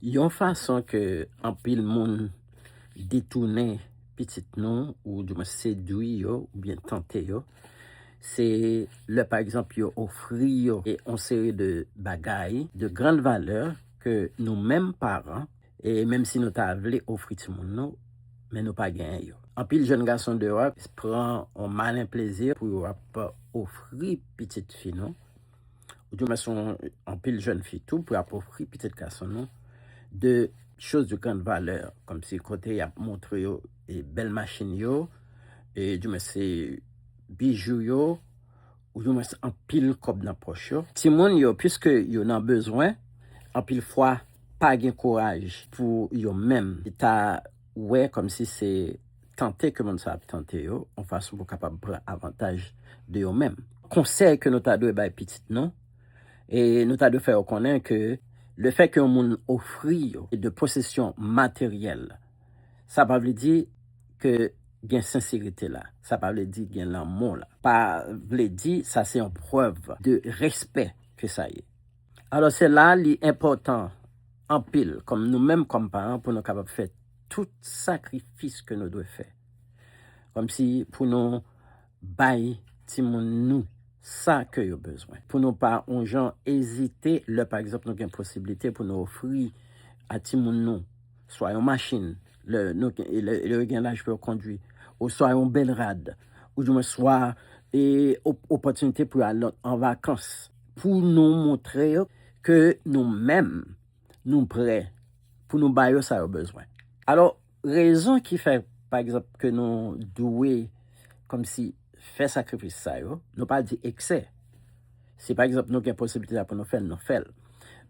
Yon fason ke anpil moun detounen pitit nou ou di mwen sedwi yo ou byen tante yo se lè pa egzanp yo ofri yo yon seri de bagay de grand valè ke nou menm paran e menm si nou ta vle ofri timoun nou men nou pa genyen yo. Anpil jèn gason deyò a pran yon malen plezi pou yo ap ofri pitit fi nou Ou di mwen son anpil jèn fi tou pou apofri pitit gason nou de choz de grand valè kòm si kote y ap montre yo e bèl machin yo e di mwen se bijou yo ou di mwen se anpil kòb nan pòch yo. Timoun yo piske yo nan bezwen anpil fwa pa gen kouraj pou yo menm ta wè kòmsi se tante ke moun sa ap tante yo, yon fason pou kapab pran avantaj de yo menm. Konsèy ke nou ta dwe bay pitit nou, e nou ta dwe fè yo konnen ke le fè ke yon moun ofri yo de posesyon materyèl, sa pa vle di ke gen senserite la, sa pa vle di gen lanmou la, pa vle di sa se yon prèv de respè ke sa ye. Alò se la li enpòtan anpil kòm nou menm kòm paran pou nou kapab fè tout sakrifis ke nou dwe fè kòm si pou nou bay timoun nou sa ke yo bezwen pou nou pa yon jan ezite lè pa egzanp nou gen posiblite pou nou ofri a timoun nou swa yon machin lè yo gen laj pou yo kondwi oswa yon bèl rad ou di mwen swa e opòtinite pou yo al an vakans. pou nou montre yo ke nou menm nou prè pou nou ba yo sa yo bezwen. Alò, rezon ki fè, pa egzanp, ke nou dwe kòmsi fè sakrifis sa yo, nou pa di eksè. Si pa egzanp nou gen posiblite a pou nou fè l, nou fè l.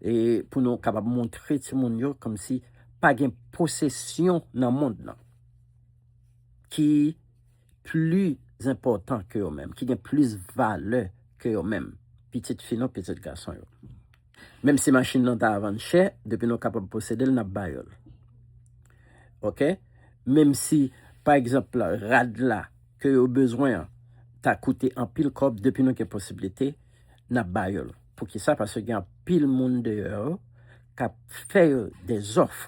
E pou nou kapab montre timoun yo kòmsi pa gen posesyon nan mond lan ki. pli enpòtan ke yo menm, ki gen plis valè ke yo menm, pitit fi nou, pitit gason yo. Menm si machin nan ta vann chè, depi nou kapab posede l, n ap ba yo l. Ok? Menm si, pa egzanp, rad la ke yo bezwen an ta koute anpil kòb, depi nou gen posiblite, n ap ba yo l. Poukisa? Paske gen anpil moun deyò yo k ap fè yo dezòf.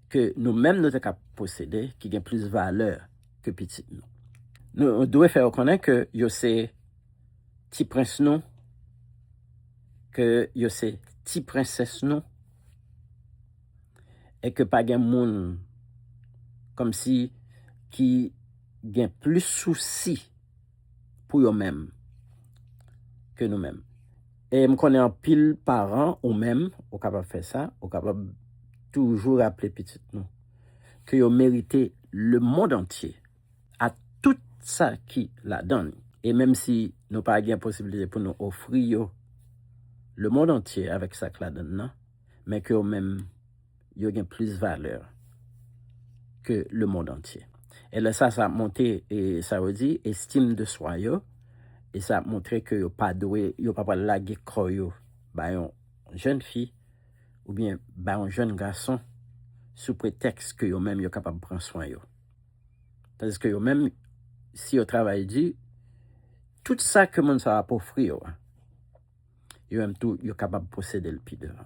ke nou menm nou te ka posede ki gen plis valè ke pitit nou. Nou dwe fè yo konnen ke yo se ti prens nou, ke yo se ti prensès nou, e ke pa gen moun kòmsi ki gen plis sousi. pou yo menm ke nou menm. E m konnen anpil paran, ou menm, ou kapab fè sa, ou kapab toujou raple pitit nou ke yo merite lemond antye ak tout sa ki ladan li. E menm si nou pa gen posiblite pou nou ofri yo lemond antye avèk sa k ladan l lan, men ke yo menm. yo gen plis valè ke lemonn antye. E lè sa, sa ap monte, e sa yo di, estim de swa yo, e sa ap montre ke yo pa dwe, yo pa pral lage kò yo ba yon jenn fi oubyen ba yon jenn gason sou pretèks ke yo menm yo kapab pran swen yo. Tandiske yo menm, si yo travay di, tout sa ke moun sa yo ap ofri yo a, yo menm tou yo kapab posede l pi devan.